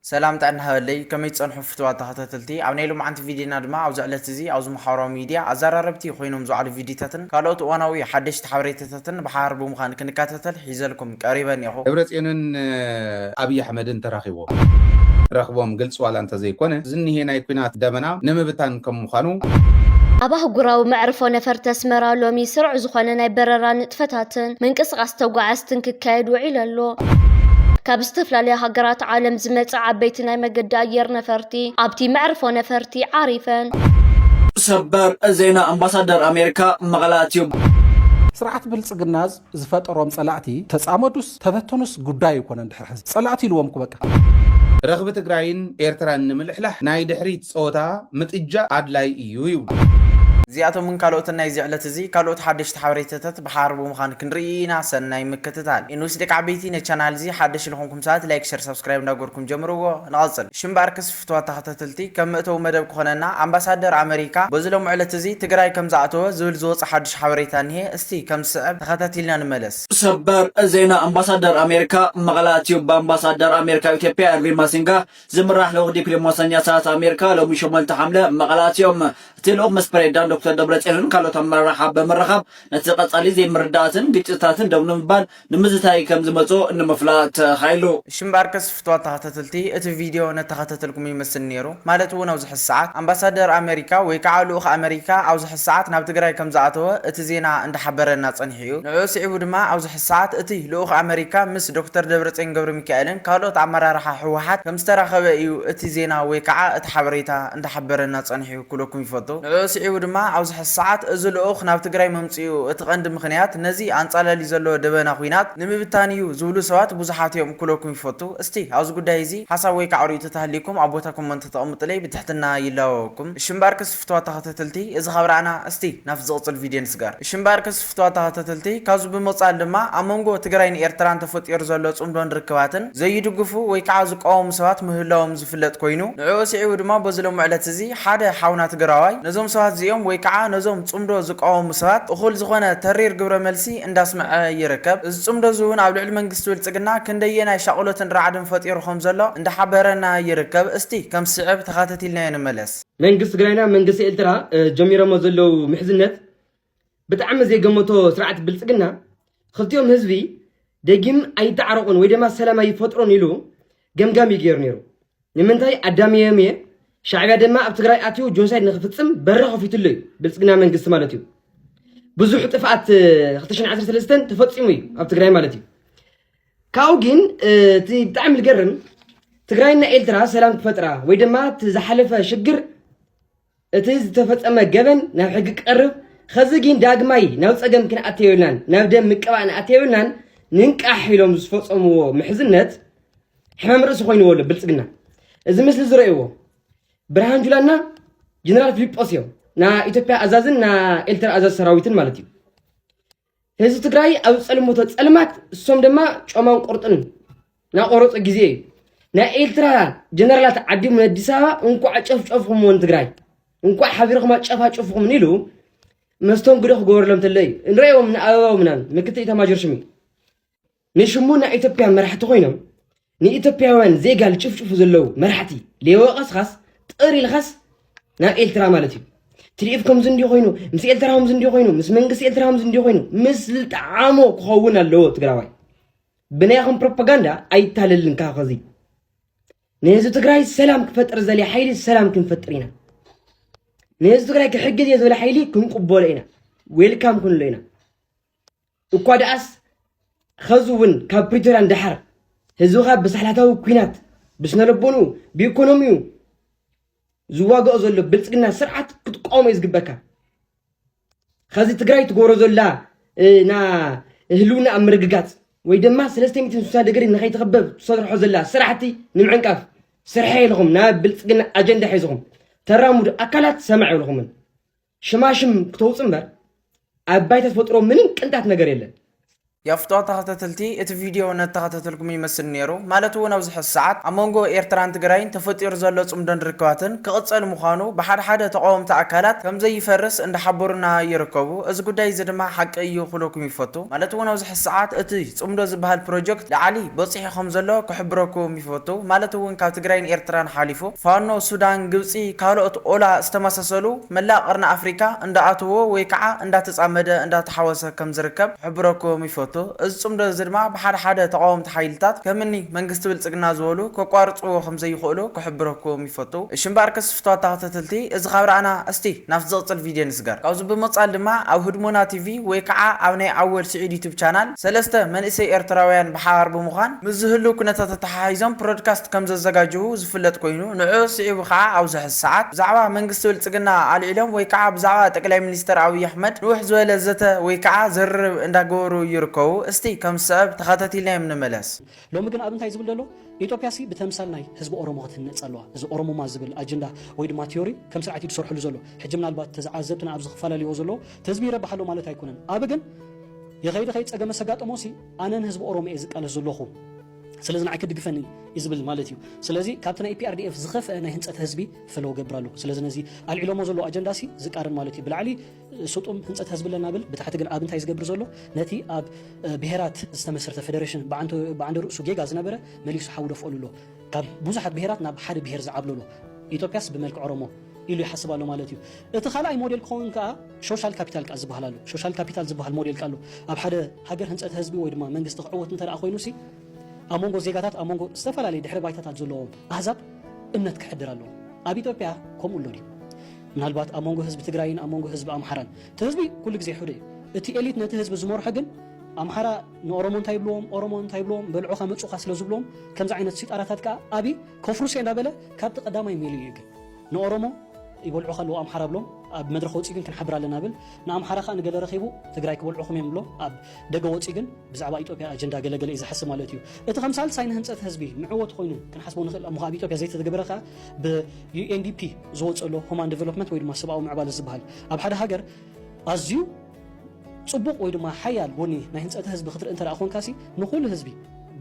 ሰላም ጥዕና ሃበለይ ከመይ ትጸንሑ ፍቱዋት ተኸታተልቲ ኣብ ናይ ሎምዓንቲ ቪድዮና ድማ ኣብዚ ዕለት እዚ ኣብዚ ማሓበራዊ ሚድያ ኣዛራረብቲ ኮይኖም ዝውዓሉ ቪድዮታትን ካልኦት እዋናዊ ሓደሽቲ ሓበሬታታትን ብሓባር ብምዃን ክንካታተል ሒዘልኩም ቀሪበ እኔኹ። ደብረጽዮንን ኣብይ ኣሕመድን ተራኺቦም ረኽቦም ግልፂ ዋላ እንተዘይኮነ ዝኒሄ ናይ ኩናት ደበና ንምብታን ከም ምዃኑ ኣብ ኣህጉራዊ መዕርፎ ነፈርቲ ኣስመራ ሎሚ ስሩዕ ዝኾነ ናይ በረራ ንጥፈታትን ምንቅስቓስ ተጓዓዝትን ክካየድ ውዒሉ ኣሎ። ካብ ዝተፈላለያ ሃገራት ዓለም ዝመጻ ዓበይቲ ናይ መገዲ ኣየር ነፈርቲ ኣብቲ መዕርፎ ነፈርቲ ዓሪፈን። ሰበር ዜና ኣምባሳደር ኣሜሪካ መቐለ ኣትዩ። ስርዓት ብልፅግናዝ ዝፈጠሮም ፀላእቲ ተፃመዱስ ተበተኑስ ጉዳይ ኣይኮነን ድሕሪ ሕዚ ፀላእቲ ኢልዎም እኮ በቃ። ረኽቢ ትግራይን ኤርትራን ንምልሕላሕ ናይ ድሕሪት ጸወታ ምጥጃእ ኣድላይ እዩ ይብሉ። እዚኣቶምን ካልኦትን ናይዚ ዕለት እዚ ካልኦት ሓደሽቲ ሓበሬታታት ብሓባር ብምዃን ክንርኢ ኢና ሰናይ ምክትታል። ኢንዊስ ደቂ ዓበይቲ ነቻናል እዚ ሓደሽ ልኾንኩም ሰባት ላይክ ሸር ሳብስክራይብ እንዳገበርኩም ጀምርዎ ንቐጽል ሽምባር ክስ ፍትዋት ተኸታተልቲ ከም መእተዊ መደብ ክኾነና ኣምባሳደር ኣመሪካ በዚ ሎምዕለት እዚ ትግራይ ከም ዝኣተወ ዝብል ዝወጸ ሓዱሽ ሓበሬታ እኒሀ እስቲ ከም ዝስዕብ ተኸታቲልና ንመለስ። ሰበር ዜና ኣምባሳደር ኣሜሪካ መቐለ ኣትዩ ብኣምባሳደር ኣሜሪካ ኣብ ኢትዮጵያ ኤርቪን ማሲንጋ ዝምራሕ ልኡኽ ዲፕሊሞሰኛታት ኣሜሪካ ሎሚ ሸሞንተ ሓምለ መቐለ ኣትዮም እቲ ልኡኽ ምስ ፕሬዚዳንት ዶክተር ደብረፅዮንን ካልኦት ኣመራርሓ ብምርኻብ ነቲ ቀፃሊ ዘይምርድዳኣትን ግጭትታትን ደው ንምባል ንምዝታይ ከም ዝመጹ ንምፍላጥ ተኻኢሉ። እሺ እምበኣርከስ ፍትዋት ተኸታተልቲ እቲ ቪድዮ ነተኸታተልኩም ይመስል ኔሩ ማለት እውን ኣብዚ ሕዚ ሰዓት ኣምባሳደር ኣመሪካ ወይ ካዓ ልኡኽ ኣመሪካ ኣብዚ ሕዚ ሰዓት ናብ ትግራይ ከም ዝኣተወ እቲ ዜና እንዳሓበረና ፀኒሑ እዩ ንዕኡ ስዒቡ ድማ ኣብዚ ሕዚ ሰዓት እቲ ልኡኽ ኣመሪካ ምስ ዶክተር ደብረፅዮን ገብረሚካኤልን ካልኦት ኣመራርሓ ህወሓት ከም ዝተራኸበ እዩ እቲ ዜና ወይ ካዓ እቲ ሓበሬታ እንዳሓበረና ፀኒሑ። ክብለኩም ይፈቱ። ንዕኡ ስዒቡ ድማ ኣብዚ ሕዚ ሰዓት እዚ ልኡኽ ናብ ትግራይ ምምፅኡ እቲ ቀንዲ ምኽንያት ነዚ ኣንፃላልዩ ዘሎ ደበና ኹናት ንምብታን እዩ ዝብሉ ሰባት ብዙሓት እዮም ክብለኩም ይፈቱ። እስቲ ኣብዚ ጉዳይ እዚ ሓሳብ ወይ ከዓ ሪኢቶ ተሃልዩኩም ኣብ ቦታ ኮመንት ተቐምጡለይ ብትሕትና ይላበወኩም። እሺ እምበኣርከስ ፍትዋት ተኸታተልቲ እዚ ካብ ረኣና እስቲ ናብቲ ዝቕፅል ቪድዮ ንስገር። እሺ እምበኣርከስ። ፍትዋት ተኸታተልቲ፣ ካብዚ ብምቕጻል ድማ ኣብ መንጎ ትግራይን ኤርትራን ተፈጢሩ ዘሎ ጽምዶን ርክባትን ዘይድግፉ ወይ ክዓ ዝቃወሙ ሰባት ምህላዎም ዝፍለጥ ኮይኑ ንዕኡ ስዒቡ ድማ በዚ ሎሚ ዕለት እዚ ሓደ ሓውና ትግራዋይ ነዞም ሰባት እዚኦም ወይ ክዓ ነዞም ጽምዶ ዝቃወሙ ሰባት እኹል ዝኾነ ተሪር ግብረ መልሲ እንዳስመዐ ይርከብ። እዚ ጽምዶ እዚ እውን ኣብ ልዕሊ መንግስቲ ብልጽግና ክንደየናይ ሻቕሎትን ራዕድን ፈጢሩ ከም ዘሎ እንዳሓበረና ይርከብ። እስቲ ከም ዝስዕብ ተኻተቲልናዮ ንመለስ። መንግስቲ ትግራይና መንግስቲ ኤልትራ ጀሚሮሞ ዘለዉ ምሕዝነት ብጣዕሚ ዘይገመቶ ስርዓት ብልፅግና ኽልቲኦም ህዝቢ ደጊም ኣይተዓረቑን ወይ ድማ ሰላም ኣይፈጥሩን ኢሉ ገምጋም እዩ ገይሩ ነይሩ። ንምንታይ ኣዳሚዮም እየ ሻዕቢያ ድማ ኣብ ትግራይ ኣትዩ ጆኖሳይድ ንክፍፅም በሪ ከፊትሉ እዩ ብልፅግና መንግስቲ ማለት እዩ ብዙሕ ጥፍኣት 213 ተፈፂሙ እዩ ኣብ ትግራይ ማለት እዩ ካብኡ ግን እቲ ብጣዕሚ ዝገርም ትግራይና ኤርትራ ሰላም ክፈጥራ ወይ ድማ ዝሓለፈ ሽግር እቲ ዝተፈጸመ ገበን ናብ ሕጊ ክቀርብ ኸዚ ጊን ዳግማይ ናብ ጸገም ክንኣቲ የብልናን ናብ ደም ምቅባእ ንኣቲ የብልናን ንንቃሕ ኢሎም ዝፈጸምዎ ምሕዝነት ሕማም ርእሲ ኮይንዎ ኣሎ ብልጽግና እዚ ምስሊ ዝረእዎ ብርሃን ጁላና ጀነራል ፊሊጶስ እዮም ና ኢትዮጵያ ኣዛዝን ና ኤልትራ ኣዛዝ ሰራዊትን ማለት እዩ ህዝቢ ትግራይ ኣብ ዝፀልመቶ ፀልማት እሶም ድማ ጮማን ቁርጥን ናቆረፁ ግዜ እዩ ናይ ኤርትራ ጀነራላት ዓዲሙ ንኣዲስ ኣበባ እንኳዕ ጨፍጨፍኹምዎ ንትግራይ እንኳዕ ሓቢርኹም ኣጨፋጭፍኹም ኢሉ መስተንግዶ ክገበረሎም ተሎ እዩ ንሪኦም ንኣበባው ምናምን ምክትል ኢታማጆር ሹም እዩ ንሽሙ ናይ ኢትዮጵያ መራሕቲ ኮይኖም ንኢትዮጵያውያን ዜጋ ልጭፍጭፉ ዘለው መራሕቲ ሌወቀስኻስ ጥር ኢልኻስ ናብ ኤልትራ ማለት እዩ ትርኢት ከምዚ እንዲዩ ኮይኑ ምስ ኤልትራ ከምዚ እንዲዩ ኮይኑ ምስ መንግስቲ ኤልትራ ከምዚ እንዲዩ ኮይኑ ምስ ዝጠዓሞ ክኸውን ኣለዎ ትግራዋይ ብናይኹም ፕሮፓጋንዳ ኣይታለልን ካብ ኸዚ ንህዝቢ ትግራይ ሰላም ክፈጥር ዘልየ ሓይሊ ሰላም ክንፈጥር ኢና ንህዝቢ ትግራይ ክሕግዝ እየ ዝበለ ሓይሊ ክንቅበሎ ኢና ዌልካም ክንሎ ኢና እኳ ደኣስ ኸዚ እውን ካብ ፕሪቶርያ ንደሓር ህዝብኻ ብሳሕላታዊ ኲናት ብስነልቦንኡ ብኢኮኖሚኡ ዝዋግኦ ዘሎ ብልፅግና ስርዓት ክትቋወሞ እዩ ዝግበካ ኸዚ ትግራይ ትገብሮ ዘላ ና ህልውና ኣብ ምርግጋፅ ወይ ድማ ሰለስተ ሚትን ስሳ ድግሪ ንኸይትኽበብ ትሰርሖ ዘላ ስራሕቲ ንምዕንቃፍ ስርሐ ኢልኹም ናብ ብልፅግና ኣጀንዳ ሒዝኹም ተራምዱ ኣካላት ሰማዕ ኢልኹምን ሽማሽም ክተውፅ እምበር ኣብ ባይታ ተፈጥሮ ምንም ቅንጣት ነገር የለን። ያፍጦ ተኸታተልቲ እቲ ቪድዮ ነተኸታተልኩም ይመስል ነይሩ ማለት እውን ኣብዚ ሕዚ ሰዓት ኣብ መንጎ ኤርትራን ትግራይን ተፈጢሩ ዘሎ ጽምዶን ርክባትን ክቕጸል ምዃኑ ብሓደ ሓደ ተቓወምቲ ኣካላት ከም ዘይፈርስ እንዳሓበሩና ይርከቡ እዚ ጉዳይ እዚ ድማ ሓቂ እዩ ክብለኩም ይፈቱ ማለት እውን ኣብዚ ሕዚ ሰዓት እቲ ጽምዶ ዝበሃል ፕሮጀክት ላዕሊ በጺሑ ከም ዘሎ ክሕብረኩም ይፈቱ ማለት እውን ካብ ትግራይን ኤርትራን ሓሊፉ ፋኖ፣ ሱዳን፣ ግብጺ ካልኦት ኦላ ዝተመሳሰሉ መላእ ቀርኒ ኣፍሪካ እንዳኣተወ ወይ ከዓ እንዳተፃመደ እንዳተሓወሰ ከም ዝርከብ ክሕብረኩም ይፈቱ። እዚ ፅምዶ እዚ ድማ ብሓደ ሓደ ተቓወምቲ ሓይልታት ከም እኒ መንግስቲ ብልፅግና ዝበሉ ከቋርፅዎ ከም ዘይኽእሉ ክሕብረኩም ይፈቱ። እሺ እምበኣርከስ ፍትዋት ተኸታተልቲ እዚ ካብ ረኣና እስቲ ናብቲ ዝቕፅል ቪድዮ ንስገር። ካብዚ ብምቕፃል ድማ ኣብ ህድሞና ቲቪ ወይ ከዓ ኣብ ናይ ኣወል ስዒድ ዩቱብ ቻናል፣ ሰለስተ መንእሰይ ኤርትራውያን ብሓባር ብምዃን ምስ ዝህሉ ኩነታት ኣተሓሒዞም ፕሮድካስት ከምዘዘጋጅዉ ዝፍለጥ ኮይኑ ንዕዑ ስዒቡ ከኣ ኣብዚ ሕዚ ሰዓት ብዛዕባ መንግስቲ ብልጽግና ኣልዒሎም ወይ ከኣ ብዛዕባ ጠቅላይ ሚኒስተር ኣብይ ኣሕመድ ንውሕ ዝበለ ዘተ ወይ ከኣ ዝርርብ እንዳገበሩ ይርከቡ እስቲ ከምዝስዕብ ተኸታቲልናዮም ንመለስ። ሎሚ ግን ኣብ እንታይ ዝብል ደሎ ኢጦጵያሲ ብተምሳል ናይ ህዝቢ ኦሮሞ ክትህነጽ ኣለዋ እዚ ኦሮሙማ ዝብል ኣጀንዳ ወይ ድማ ትዮሪ ከም ስርዓት እዩ ድሰርሐሉ ዘሎ ሕጂ ምናልባት ተዝዓዘብትና ኣብዚ ክፋላልይዎ ዘለዎ ተህዝቢ ይረብሕ ኣሎ ማለት ኣይኮነን ኣብ ግን ይኸይ ድኸይ ጸገመ ሰጋጠሞሲ ኣነን ህዝቢ ኦሮሞ እየ ዝቃለስ ዘሎኹ ስለዚ ንዓይ ክድግፈኒ እዩ ዝብል ማለት እዩ ስለዚ ካብቲ ናይ ኢፒኣርዲኤፍ ዝኸፍአ ናይ ህንፀት ህዝቢ ፈለዎ ገብር ኣሎ ስለዚ ነዚ ኣልዒሎሞ ዘሎ ኣጀንዳሲ ዝቃርን ማለት እዩ ብላዕሊ ስጡም ህንፀት ህዝቢ ኣለና ብል ብታሕቲ ግን ኣብ እንታይ ዝገብር ዘሎ ነቲ ኣብ ብሄራት ዝተመስረተ ፌደሬሽን ብዓንደ ርእሱ ጌጋ ዝነበረ መሊሱ ሓዊ ደፍኦሉ ኣሎ ካብ ብዙሓት ብሄራት ናብ ሓደ ብሄር ዝዓብለሎ ኢትዮጵያስ ብመልክዕ ኦሮሞ ኢሉ ይሓስብ ኣሎ ማለት እዩ። እቲ ካልኣይ ሞዴል ክኸውን ከኣ ሾሻል ካፒታል ከኣ ዝበሃል ኣሎ። ሾሻል ካፒታል ዝበሃል ሞዴል ከኣ ኣሎ። ኣብ ሓደ ሃገር ህንጸት ህዝቢ ወይ ድማ መንግስቲ ክዕወት እንተደኣ ኮይኑሲ ኣብ መንጎ ዜጋታት ኣብ መንጎ ዝተፈላለየ ድሕረ ባይታታት ዘለዎም ኣህዛብ እምነት ክሕድር ኣለዎ። ኣብ ኢትዮጵያ ከምኡ ኣሎ ድዩ? ምናልባት ኣብ መንጎ ህዝቢ ትግራይን ኣብ መንጎ ህዝቢ ኣምሓራን። እቲ ህዝቢ ኩሉ ግዜ ሕደ እዩ። እቲ ኤሊት ነቲ ህዝቢ ዝመርሖ ግን ኣምሓራ፣ ንኦሮሞ እንታይ ይብልዎም ኦሮሞ እንታይ ይብልዎም በልዑ ከመጹኻ ስለ ዝብልዎም ከምዚ ዓይነት ሲጣራታት ከኣ ኣቢ ከፍርሶ እንዳበለ ካብቲ ቀዳማይ ሜሉ እዩ ግን ንኦሮሞ ይበልዑ ከለዉ ኣምሓራ ብሎም ኣብ መድረኽ ወጺኡ ግን ክንሓብር ኣለና ብል ንኣምሓራ ከኣ ንገለ ረኺቡ ትግራይ ክበልዑኹም እዮም ብሎም ኣብ ደገ ወጺኡ ግን ብዛዕባ ኢትዮጵያ ኣጀንዳ ገለ ገለ እዩ ዝሓስብ ማለት እዩ እቲ ከም ሳልሳይ ንህንጸት ህዝቢ ንዕወቱ ኮይኑ ክንሓስቦ ንኽእል እሞ ኣብ ኢትዮጵያ ዘይተተገበረ ከኣ ብዩኤንዲፒ ዝወጽእ ኣሎ ሁማን ዴቨሎፕመንት ወይ ድማ ሰብኣዊ ምዕባለ ዝበሃል ኣብ ሓደ ሃገር ኣዝዩ ጽቡቕ ወይ ድማ ሓያል ጎኒ ናይ ህንጸተ ህዝቢ ክትርኢ እንተደኣ ኮንካሲ ንኹሉ ህዝቢ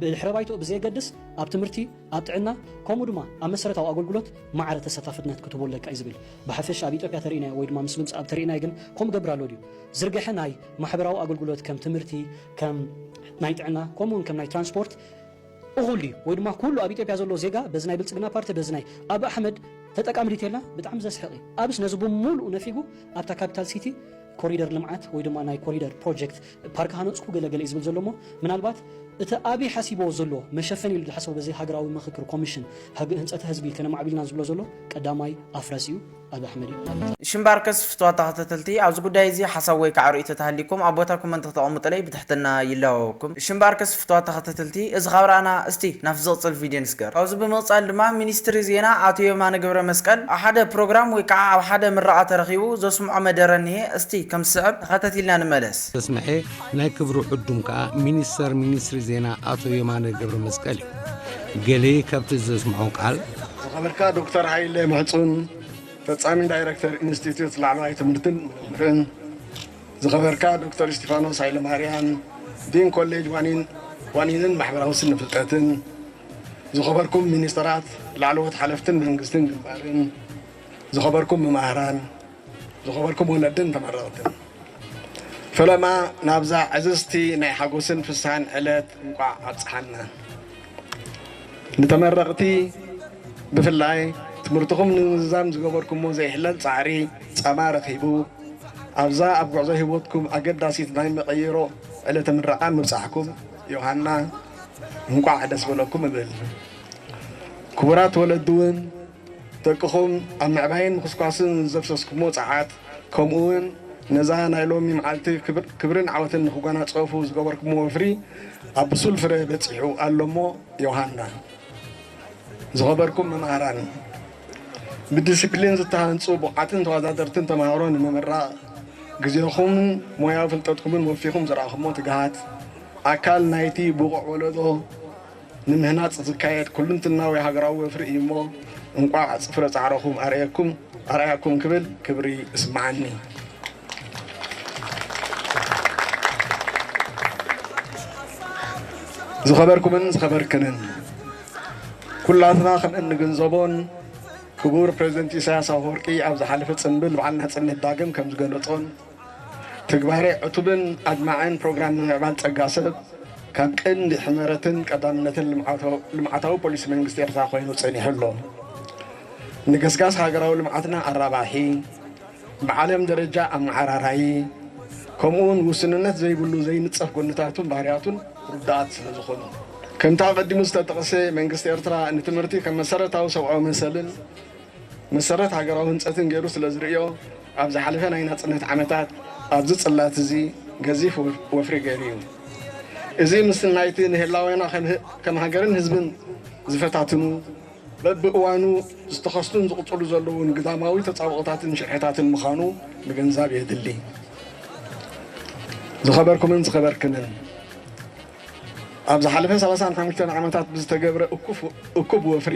ብድሕረ ባይትኡ ብዘየገድስ ኣብ ትምህርቲ፣ ኣብ ጥዕና ከምኡ ድማ ኣብ መሰረታዊ ኣገልግሎት ማዕረ ተሰታፍነት ክትህቦ ኣለካ እዩ ዝብል። ብሓፈሻ ኣብ ኢትዮጵያ ተርኢናዮ ወይ ድማ ምስ ምምጽኣ ተርኢናዮ ግን ከምኡ እገብር ኣሎ ድዩ? ዝርገሐ ናይ ማሕበራዊ ኣገልግሎት ከም ትምህርቲ፣ ከም ናይ ጥዕና ከምኡ እውን ከም ናይ ትራንስፖርት፣ እኹል እዩ ወይ ድማ ኩሉ ኣብ ኢትዮጵያ ዘሎ ዜጋ በዚ ናይ ብልፅግና ፓርቲ በዚ ናይ ኣቢ ኣሕመድ ተጠቃሚ ድዩ ተይልና ብጣዕሚ ዘስሕቕ እዩ ኣብስ ነዚ ብሙሉኡ ነፊጉ ኣብታ ካፒታል ሲቲ ኮሪደር ልምዓት ወይ ድማ ናይ ኮሪደር ፕሮጀክት ፓርክ ሃነፅኩ ገለ ገለ እዩ ዝብል ዘሎ እሞ ምናልባት እቲ ኣቢ ሓሲብዎ ዘሎ መሸፈኒ ኢሉ ዝሓሰቦ በዚ ሃገራዊ ምኽክር ኮሚሽን ህንፀተ ህዝቢ ከነማዕቢል ኢና ዝብሎ ዘሎ ቀዳማይ ኣፍረስ እዩ ኣብ ኣሕመድ እዩ ማለት እዩ። ሽምባርከስ ፍትዋት ተኸታተልቲ ኣብዚ ጉዳይ እዚ ሓሳብ ወይ ካዓ ርእይቶ ተሃልዩኩም ኣብ ቦታ ኮመንት ክተቐሙጥለይ ብትሕትና ይላወወኩም ሽምባርከስ ፍትዋት ተኸታተልቲ እዚ ካብ ራእና እስቲ ናብቲ ዝቕፅል ቪድዮ ንስገር ካብዚ ብምቕፃል ድማ ሚኒስትሪ ዜና ኣቶ የማነ ገብረመስቀል ኣብ ሓደ ፕሮግራም ወይ ካዓ ኣብ ሓደ ምረቓ ተረኺቡ ዘስምዖ መደረ እኒሄ እስቲ ከም ዝስዕብ ተኸታቲልና ንመለስ። ዘስመዔ ናይ ክብሩ ዕዱም ካዓ ሚኒስተር ሚኒስትሪ ዜና ኣቶ የማነ ገብረመስቀል እዩ። ገሌ ካብቲ ዘስምዖ ቃል። ዝኸበርካ ዶክተር ሃይለ ምሕጹን ፈጻሚ ዳይረክተር ኢንስቲትዩት ላዕለዋይ ትምህርትን ምርምርን፣ ዝኸበርካ ዶክተር እስቲፋኖስ ሃይለማርያም ዲን ኮሌጅ ዋኒንን ማሕበራዊ ስነ ፍልጠትን፣ ዝኸበርኩም ሚኒስተራት፣ ላዕለዎት ሓለፍትን መንግስትን ግንባርን፣ ዝኸበርኩም መማህራን፣ ዝኸበርኩም ወለድን ተመረቕትን ፈለማ ናብዛ ዕዝዝቲ ናይ ሓጎስን ፍስሃን ዕለት እንቋዕ ኣብጽሓና። ንተመረቕቲ ብፍላይ ትምህርትኹም ንምዝዛም ዝገበርኩሞ ዘይሕለል ጻዕሪ ጸማ ረኺቡ ኣብዛ ኣብ ጉዕዞ ህይወትኩም ኣገዳሲት ናይ መቐይሮ ዕለተ ምረቓ ምብጻሕኩም ዮሃና እንቋዕ ደስ በለኩም እብል። ክቡራት ወለድውን ደቅኹም ኣብ ምዕባይን ምኹስኳስን ዘፍሰስኩሞ ጸዓት፣ ከምኡ'ውን ነዛ ናይ ሎሚ መዓልቲ ክብርን ዓወትን ንኽጓናጸፉ ዝገበርኩሞ ወፍሪ ኣብ ብሱል ፍረ በጺሑ ኣሎ'ሞ ዮሃና! ዝኸበርኩም መማህራን! ብዲሲፕሊን ዝተሃንጹ ብቑዓትን ተወዳደርትን ተማሃሮ ንምምራቕ ግዜኹምን ሞያዊ ፍልጠትኩምን ወፊኹም ዘርኣኹሞ ትግሃት፣ ኣካል ናይ'ቲ ብቑዕ ወለዶ፣ ንምህናጽ ዝካየድ ኩሉንትናዊ ሃገራዊ ወፍሪ እዩ እሞ እንቋዕ ፍረ ጻዕረኹም ኣርኣየኩም ኣርኣያኩም ክብል ክብሪ እስመዓኒ። ዝኸበርኩምን ዝኸበርክንን ኩላትና ከም እንግንዘቦን ክቡር ፕረዚደንት ኢሳያስ ኣፈወርቂ ኣብ ዝሓለፈ ጽንብል በዓል ናጽነት ዳግም ከም ዝገለጾን ትግባረ ዕቱብን ኣድማዕን ፕሮግራም ምምዕባል ፀጋ ሰብ ካብ ቀንዲ ሕመረትን ቀዳምነትን ልምዓታዊ ፖሊሲ መንግስቲ ኤርትራ ኮይኑ ፀኒሑ ኣሎ። ንገስጋስ ሃገራዊ ልምዓትና ኣራባሒ፣ ብዓለም ደረጃ ኣመዓራራዪ፣ ከምኡ እውን ውስንነት ዘይብሉ ዘይንፀፍ ጎንታቱን ባህርያቱን ርዱኣት ስለዝኾኑ። ከምቲ ኣቐዲሙ ዝተጠቕሰ መንግስቲ ኤርትራ ንትምህርቲ ከም መሰረታዊ ሰብኣዊ መሰልን፣ መሰረት ሃገራዊ ህንጸትን ገይሩ ስለ ዝርእዮ፣ ኣብ ዝሓለፈ ናይ ናጽነት ዓመታት ኣብዚ ጽላት እዚ ገዚፍ ወፍሪ ገይሩ እዩ። እዚ ምስ ናይቲ ንህላዌና ከም ሃገርን ህዝብን ዝፈታትኑ፣ በብእዋኑ ዝተኸስቱን ዝቕጽሉ ዘለዉን ግዳማዊ ተጻብኦታትን ሽርሕታትን ምዃኑ ምግንዛብ የድሊ። ዝኸበርኩምን ዝኸበርክንን፣ ኣብ ዝሓለፈ ሰላሳን ሓሙሽተን ዓመታት ብዝተገብረ እኩብ ወፍሪ፣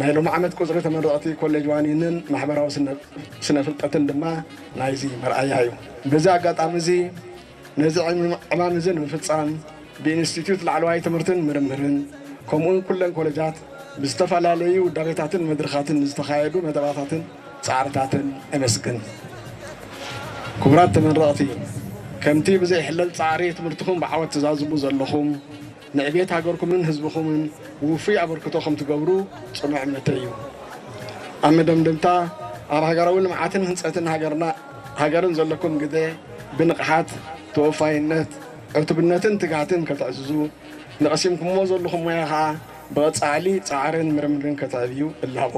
ናይ ሎሚ ዓመት ቁፅሪ ተመረቕቲ ኮሌጅ ዋኒንን ማሕበራዊ ስነ ፍልጠትን ድማ ናይዚ መርኣያ እዩ። በዚ ኣጋጣሚ እዚ ነዚ ዕማም እዚ ንምፍፃም ብኢንስቲትዩት ላዕለዋይ ትምህርትን ምርምርን ከምኡ እውን ኩለን ኮሌጃት ብዝተፈላለዩ ውዳቤታትን መድርኻትን ንዝተኻየዱ መደባታትን ፃዕርታትን እምስግን። ክቡራት ተመረቕቲ ከምቲ ብዘይሕለል ፃዕሪ ትምህርትኹም ብዓወት ትዛዝሙ ዘለኹም፣ ንዕቤት ሃገርኩምን ህዝብኹምን ውፉይ ኣበርክቶ ከም ትገብሩ ጽኑዕ እምነተይ እዩ። ኣብ መደምደምታ፣ ኣብ ሃገራዊ ልምዓትን ህንጸትን ሃገርና ሃገርን ዘለኩም ግደ ብንቕሓት፣ ተወፋይነት፣ ዕቱብነትን ትግሃትን ከተዕዝዙ፣ ንቐሲምኩምዎ ዘለኹም ሞያ ከኣ ብቐጻሊ ጻዕርን ምርምርን ከተዕብዩ እላቦ።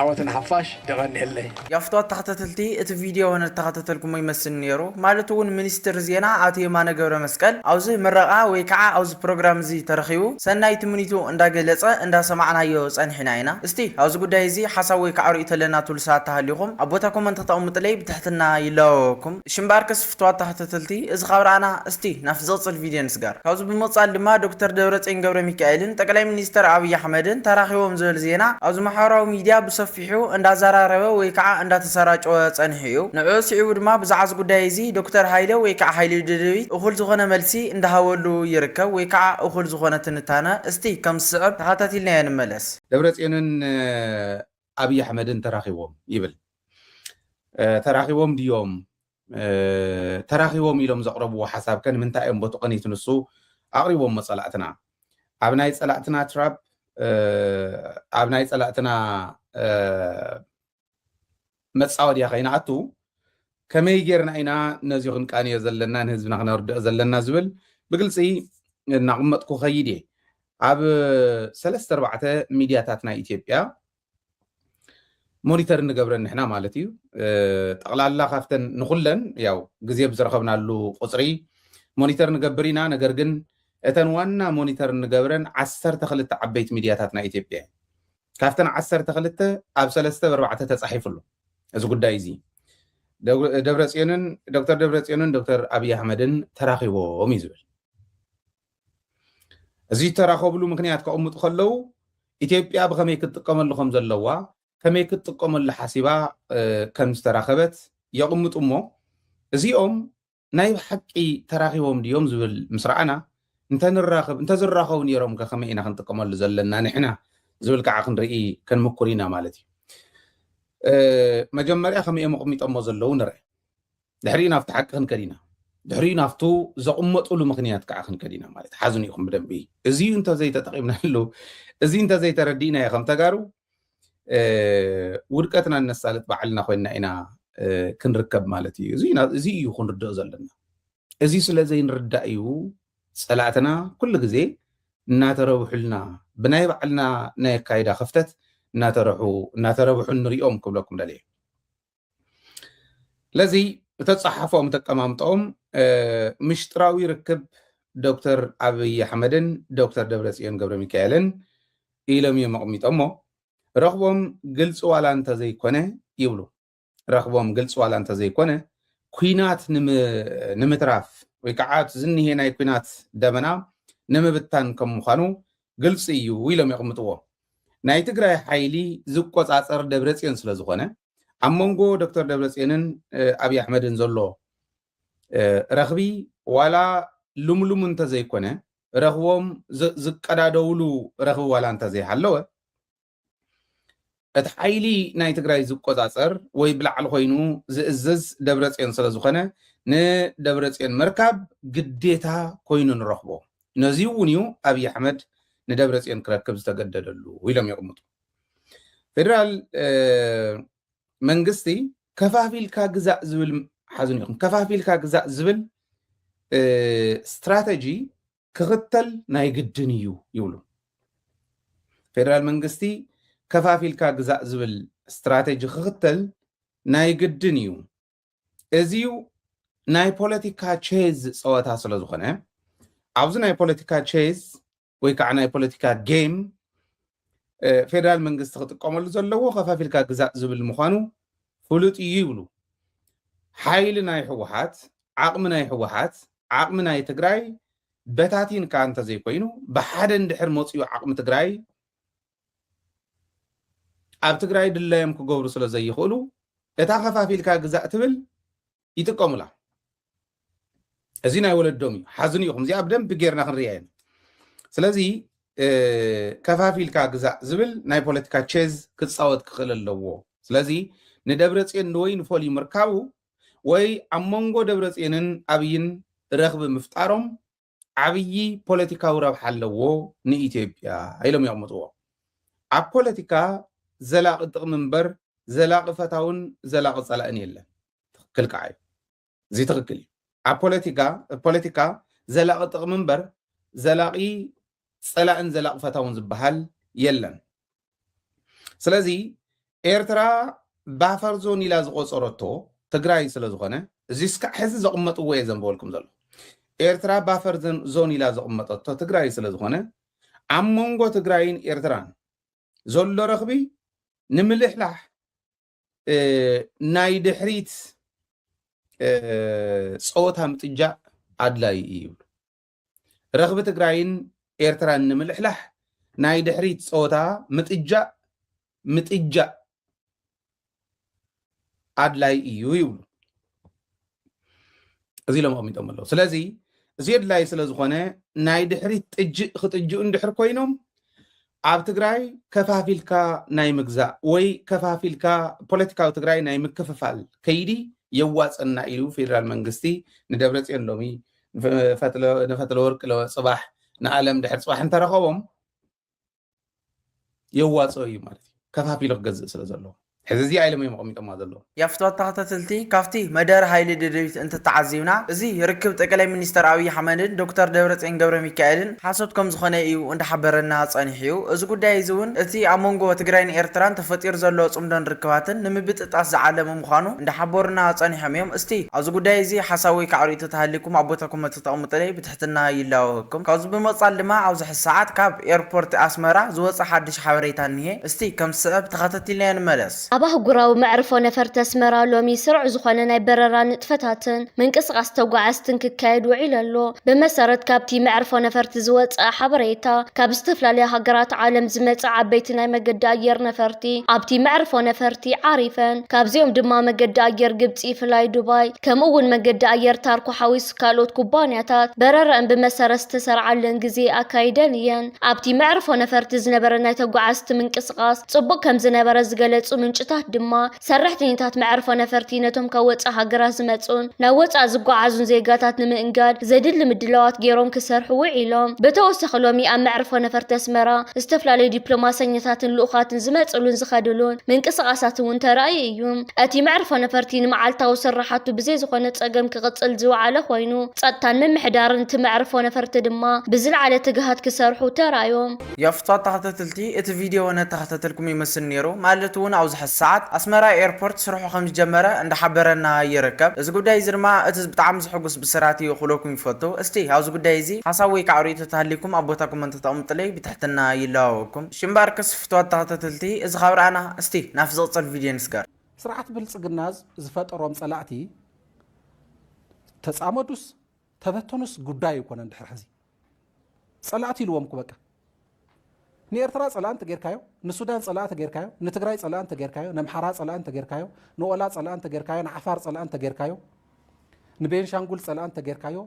ዓወት ንሓፋሽ የቀንየለይ። ያፍትዋ ተኸታተልቲ እቲ ቪድዮ ንተኸታተልኩሞ ይመስል ኔሩ ማለት ውን ሚኒስትር ዜና ኣቶ የማነ ገብረመስቀል ኣብዚ ምረቓ ወይ ከዓ ኣብዚ ፕሮግራም እዚ ተረኺቡ ሰናይ ትምኒቱ እንዳገለፀ እንዳሰማዕናዮ ፀኒሕና ኢና እስቲ ኣብዚ ጉዳይ እዚ ሓሳብ ወይ ከዓ ሪኢቶ ኣለና ትብሉ ሰባት ተሃሊኹም ኣብ ቦታ ኮመንት ክተቕምጡለይ ብትሕትና ይላበወኩም እሺ እምበኣርከስ ፍትዋት ተኸታተልቲ እዚ ካብ ረኣና እስቲ ናብቲ ዝቕጽል ቪድዮ ንስገር። ካብዚ ብምቕጻል ድማ ዶክተር ደብረጽዮን ገብረሚካኤልን ጠቅላይ ሚኒስተር ኣብይ ኣሕመድን ተራኺቦም ዝብል ዜና ኣብዚ ማሕበራዊ ሚድያ ብሰፊሑ እንዳዘራረበ ወይ ከዓ እንዳተሰራጨወ ጸኒሑ እዩ። ንዕኡ ስዒቡ ድማ ብዛዕባ እዚ ጉዳይ እዚ ዶክተር ሃይለ ወይ ከዓ ሃይሉ ደደቢት እኹል ዝኾነ መልሲ እንዳሃበሉ ይርከብ ወይ ከዓ እኹል ዝኾነ ትንታነ እስቲ ከም ዝስዕብ ተኸታቲልናዮ ንመለስ። ደብረጽዮንን ኣብይ ኣሕመድን ተራኺቦም ይብል። ተራኺቦም ድዮም ተራኺቦም ኢሎም ዘቕረብዎ ሓሳብ ከ ንምንታይ እዮም ቦቲ ቕኒት ንሱ ኣቕሪቦሞ ጸላእትና ኣብ ናይ ጸላእትና ትራፕ ኣብ ናይ ጸላእትና መጻወድያ ከይንኣቱ ከመይ ጌርና ኢና ነዚ ክንቃንዮ ዘለና ንህዝብና ክነርድኦ ዘለና ዝብል ብግልፂ እናቕመጥኩ ከይድ እየ ኣብ ሰለስተ ኣርባዕተ ሚድያታት ናይ ኢትዮጵያ ሞኒተር እንገብረን ንሕና ማለት እዩ ጠቕላላ ካብተን ንኩለን ያው ግዜ ብዝረኸብናሉ ቁፅሪ ሞኒተር ንገብር ኢና ነገር ግን እተን ዋና ሞኒተር እንገብረን ዓሰርተ ክልተ ዓበይቲ ሚድያታት ናይ ኢትዮጵያ እዩ ካብተን ዓሰርተ ክልተ ኣብ ሰለስተ በርባዕተ ተፃሒፉ ኣሎ እዚ ጉዳይ እዚ ደብረፅዮንን ዶክተር ደብረፅዮንን ዶክተር ኣብይ ኣሕመድን ተራኺቦም እዩ ዝብል እዚ ዝተራኸብሉ ምክንያት ከቕምጡ ከለው ኢትዮጵያ ብኸመይ ክትጥቀመሉ ከም ዘለዋ ከመይ ክትጥቀመሉ ሓሲባ ከም ዝተራኸበት የቕምጡ እሞ እዚኦም ናይ ብሓቂ ተራኺቦም ድዮም ዝብል ምስ ረኣና እንተንራኸብ እንተዝራኸቡ ነይሮም ከ ከመይ ኢና ክንጥቀመሉ ዘለና ንሕና ዝብል ከዓ ክንርኢ ክንምኩር ኢና ማለት እዩ መጀመርያ ከመይ እዮም ኣቕሚጠሞ ዘለዉ ንርአ ድሕሪኡ ናብቲ ሓቂ ክንከድ ኢና ድሕሪኡ ናብቱ ዘቕመጡሉ ምክንያት ከዓ ክንከድ ኢና ማለት ሓዝኑ ኢኹም ብደንቢ እዚ እንተዘይተጠቂምናሉ እዚ እንተዘይተረዲእና ዩ ከም ተጋሩ ውድቀትና እነሳልጥ ባዕልና ኮይና ኢና ክንርከብ ማለት እዩ እዚ እዩ ክንርድኦ ዘለና እዚ ስለ ዘይንርዳእ እዩ ፀላእትና ኩሉ ግዜ እናተረብሑልና ብናይ ባዕልና ናይ ኣካይዳ ክፍተት እናተረሑ እናተረብሑ ንሪኦም ክብለኩም ደልየ ለዚ እተጸሓፎም እተቀማምጦም ምሽጥራዊ ርክብ ዶክተር ኣብይ ኣሕመድን ዶክተር ደብረጽዮን ገብረ ሚካኤልን ኢሎም እዮም ኣቕሚጦሞ ረኽቦም ግልፂ ዋላ እንተዘይኮነ ይብሉ ረኽቦም ግልፂ ዋላ እንተዘይኮነ ኩናት ንምትራፍ ወይ ከዓ እቲ ዝኒሄ ናይ ኩናት ደመና ንምብታን ከም ምዃኑ ግልፂ እዩ ኢሎም የቕምጥዎ ናይ ትግራይ ሓይሊ ዝቆፃፀር ደብረፅዮን ስለ ዝኾነ ኣብ መንጎ ዶክተር ደብረፅዮንን ኣብይ ኣሕመድን ዘሎ ረኽቢ ዋላ ልምሉም እንተዘይኮነ ረኽቦም ዝቀዳደውሉ ረኽቢ ዋላ እንተዘይሃለወ እቲ ሓይሊ ናይ ትግራይ ዝቆፃፀር ወይ ብላዕሊ ኮይኑ ዝእዝዝ ደብረፅዮን ስለዝኾነ ንደብረፅዮን ምርካብ ግዴታ ኮይኑ ንረኽቦ። ነዚ እውን እዩ ኣብይ ኣሕመድ ንደብረፅዮን ክረክብ ዝተገደደሉ ኢሎም የቕምጡ። ፌደራል መንግስቲ ከፋፊልካ ግዛእ ዝብል ሓዝን ኢኹም ከፋፊልካ ግዛእ ዝብል ስትራተጂ ክኽተል ናይ ግድን እዩ ይብሉ ፌደራል መንግስቲ ከፋፊልካ ግዛእ ዝብል ስትራተጂ ክኽተል ናይ ግድን እዩ እዚዩ ናይ ፖለቲካ ቼዝ ፀወታ ስለ ዝኾነ ኣብዚ ናይ ፖለቲካ ቼዝ ወይ ከዓ ናይ ፖለቲካ ጌም ፌደራል መንግስቲ ክጥቀመሉ ዘለዎ ከፋፊልካ ግዛእ ዝብል ምዃኑ ፍሉጥ እዩ ይብሉ ሓይሊ ናይ ህወሓት ዓቕሚ ናይ ህወሓት ዓቕሚ ናይ ትግራይ በታቲንካ እንተዘይኮይኑ ብሓደ እንድሕር መፅኡ ዓቕሚ ትግራይ ኣብ ትግራይ ድላዮም ክገብሩ ስለ ዘይኽእሉ እታ ከፋፊልካ ግዛእ ትብል ይጥቀሙላ። እዚ ናይ ወለዶም እዩ። ሓዝኑ ኢኹም። እዚኣ ብደንብ ጌርና ክንሪኣ ኢና። ስለዚ ከፋፊልካ ግዛእ ዝብል ናይ ፖለቲካ ቼዝ ክፃወት ክኽእል ኣለዎ። ስለዚ ንደብረ ፅዮን ንወይ ንፈልዩ ምርካቡ ወይ ኣብ መንጎ ደብረ ፅዮንን ኣብይን ረኽቢ ምፍጣሮም ዓብዪ ፖለቲካዊ ረብሓ ኣለዎ ንኢትዮጵያ ኢሎም የቕምጥዎ። ኣብ ፖለቲካ ዘላቒ ጥቕሚ እምበር ዘላቒ ፈታውን ዘላቒ ፀላእን የለን። ትኽክል ከዓ እዩ። እዚ ትኽክል እዩ። ኣብ ፖለቲካ ፖለቲካ ዘላቒ ጥቕሚ እምበር ዘላቒ ፀላእን ዘላቒ ፈታውን ዝበሃል የለን። ስለዚ ኤርትራ ባፈር ዞን ኢላ ዝቆፀረቶ ትግራይ ስለ ዝኾነ እዚ እስካዕ ሕዚ ዘቕመጥዎ እየ ዘንበበልኩም ዘሎ ኤርትራ ባፈር ዞን- ዞን ኢላ ዘቕመጠቶ ትግራይ ስለ ዝኾነ ኣብ መንጎ ትግራይን ኤርትራን ዘሎ ረኽቢ ንምልሕላሕ እ፣ ናይ ድሕሪት እ፣ ፀወታ ምጥጃእ ኣድላዪ እዩ ይብሉ ረኽቢ ትግራይን ኤርትራን ንምልሕላሕ ናይ ድሕሪት ጸወታ ምጥጃእ ምጥጃእ ኣድላይ እዩ ይብሉ እዚ ኢሎም ኣቕሚጦም ኣለዉ ስለዚ እዚ ኣድላይ ስለ ዝኾነ ናይ ድሕሪት ጥጅእ ክጥጅኡ እንድሕር ኮይኖም ኣብ ትግራይ ከፋፊልካ ናይ ምግዛእ ወይ ከፋፊልካ ፖለቲካዊ ትግራይ ናይ ምክፍፋል ከይዲ የዋፀና ኢሉ ፌዴራል መንግስቲ ንደብረፅዮን ሎሚ ንፈትለ ወርቂ ፅባሕ ንኣለም ድሕር ፅባሕ እንተረኸቦም የዋፅኦ እዩ ማለት እዩ ከፋፊሉ ክገዝእ ስለ ዘለዎ ሕዚ እዚኣ ኢሎም እዮም ኣቐሚጦማ ዘለዉ። ያፍትዋ ተኸታተልቲ ካብቲ መደረ ሃይሊ ደደቢት እንተተዓዚብና እዚ ርክብ ጠቀላይ ሚኒስተር ኣብይ ኣሕመድን ዶክተር ደብረጽዮን ገብረሚካኤልን ሓሶት ከምዝኾነ እዩ እንዳሓበረና ጸኒሑ እዩ እዚ ጉዳይ እዚ እውን እቲ ኣብ መንጎ ትግራይን ኤርትራን ተፈጢሩ ዘሎ ጽምዶን ርክባትን ንምብጥጣስ ዝዓለመ ምዃኑ እንዳሓበሩና ጸኒሖም እዮም እስቲ ኣብዚ ጉዳይ እዚ ሓሳብ ወይ ከዓ ርእይቶ ተሃሊኩም ኣብ ቦታ ኮመንት ተተቐምጡለይ ብትሕትና ይላወሀኩም። ካብዚ ብምቅጻል ድማ ኣብዚ ሕዚ ሰዓት ካብ ኤርፖርት ኣስመራ ዝወጸ ሓድሽ ሓበሬታ እኒሄ እስቲ ከም ዝስዕብ ተኸታቲልናዮ ንመለስ። ኣብ ኣህጉራዊ መዕርፎ ነፈርቲ ኣስመራ ሎሚ ስሩዕ ዝኾነ ናይ በረራ ንጥፈታትን ምንቅስቃስ ተጓዓዝትን ክካየድ ውዒሉ ኣሎ። ብመሰረት ካብቲ መዕርፎ ነፈርቲ ዝወጸኣ ሓበሬታ ካብ ዝተፈላለያ ሃገራት ዓለም ዝመጻ ዓበይቲ ናይ መገዲ ኣየር ነፈርቲ ኣብቲ መዕርፎ ነፈርቲ ዓሪፈን። ካብዚኦም ድማ መገዲ ኣየር ግብጺ ፍላይ ዱባይ ከምኡ እውን መገዲ ኣየር ታርኮ ሓዊሱ ካልኦት ኩባንያታት በረረኣን ብመሰረት ዝተሰርዓለን ግዜ ኣካይደን እየን። ኣብቲ መዕርፎ ነፈርቲ ዝነበረ ናይ ተጓዓዝቲ ምንቅስቓስ ጽቡቕ ከምዝነበረ ዝገለጹ ምንጭታት ድማ፣ ሰራሕተኛታት መዕርፎ ነፈርቲ ነቶም ካብ ወጻኢ ሃገራት ዝመጽኡን ናብ ወጻኢ ዝጓዓዙን ዜጋታት ንምእንጋድ ዘድሊ ምድላዋት ገይሮም ክሰርሑ ውዒሎም። ብተወሳኺ ሎሚ ኣብ መዕርፎ ነፈርቲ ኣስመራ ዝተፈላለዩ ዲፕሎማሰኛታትን ልኡኻትን ዝመጽእሉን ዝኸድሉን ምንቅስቓሳት'ውን ተራእዩ እዩ። እቲ መዕርፎ ነፈርቲ ንመዓልታዊ ስርሓቱ ብዘይ ዝኾነ ፀገም ክቕፅል ዝወዓለ ኾይኑ፣ ፀጥታን ምምሕዳርን እቲ መዕርፎ ነፈርቲ ድማ ብዝለዓለ ትግሃት ክሰርሑ ተራእዮም። ያፍቷት ተኸታተልቲ እቲ ቪድዮ ነተኸታተልኩም ይመስል ኔሩ ማለት ውን ኣብዚ ሐዚ ሰዓት ኣስመራ ኤርፖርት ስርሑ ከምዝጀመረ እንዳሓበረና ይርከብ እዚ ጉዳይ እዚ ድማ እቲ ብጣዕሚ ዘሕጉስ ብስራት እዩ ክብለኩም ይፈቱ እስቲ ኣብዚ ጉዳይ እዚ ሓሳብ ወይ ከዓ ሪኢቶ ተሃልይኩም ኣብ ቦታ ኮመንት ተቅምጡለይ ብትሕትና ይላበወኩም እሺ እምበኣር ፍትዋት ተኸታተልቲ እዚ ካብ ረኣና እስቲ ናብቲ ዝቕጽል ቪድዮ ንስገር። ስርዓት ብልጽግና ዝፈጠሮም ጸላእቲ ተጻመዱስ ተበተኑስ ጉዳይ ኣይኮነን ድሕሪ ሕዚ ጸላእቲ ኢልዎም እኮ በቃ ንኤርትራ ጸላእ እንተጌርካዮ ንሱዳን ጸላእ እንተጌርካዮ ንትግራይ ጸላእ እንተጌርካዮ ነምሓራ ጸላእ እንተጌርካዮ ንኦላ ጸላእ እንተጌርካዮ ንዓፋር ጸላእ እንተጌርካዮ ንቤንሻንጉል ጸላእ እንተጌርካዮ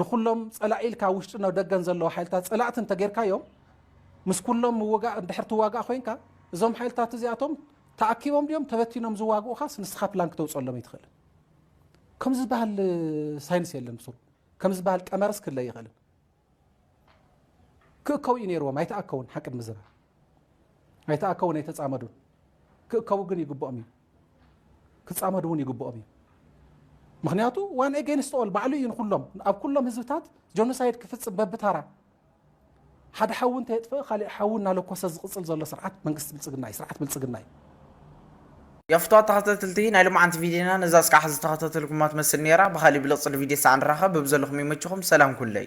ንኩሎም ጸላኢ ኢልካ ኣብ ውሽጥን ደገን ዘለዉ ሓይልታት ጸላእቲ እንተጌርካዮም ምስ ኩሎም ምውጋእ እንድሕር ትዋጋእ ኮይንካ እዞም ሓይልታት እዚኣቶም ተኣኪቦም ድዮም ተበቲኖም ዝዋግኡኻስ ንስኻ ፕላን ክተውፀሎም ኣይትኽእልን። ከም ዝበሃል ሳይንስ የለን ብሱሩ ከም ዝበሃል ቀመርስ ክለ ኣይኽእልን። ክእከቡ እዩ ነይርዎም ኣይተኣከውን ሓቂ ንምዝራብ ኣይተኣከውን ኣይተፃመዱን ክእከቡ ግን ይግብኦም እዩ ክጻመዱ ውን ይግብኦም እዩ ምክንያቱ ዋን ኤገንስት ኦል ባዕሉ እዩ ንኩሎም ኣብ ኩሎም ህዝብታት ጆኖሳይድ ክፍጽም በብታራ ሓደ ሓዊ እንተየጥፍእ ካሊእ ሓዊ እናለኮሰ ዝቕጽል ዘሎ ስርዓት መንግስቲ ብልጽግና እዩ ስርዓት ብልጽግና እዩ ያ ፍትዋት ተኸታተልቲ ናይ ሎማዓንቲ ቪድዮና ነዛ እስካዕ ሐዚ ተኸታተልኩማ ትመስል ኔራ ብኻሊእ ብልቅፅል ቪድዮ ሳዕ ንራኸብ በብዘለኹም ይመችኹም ሰላም ኩለይ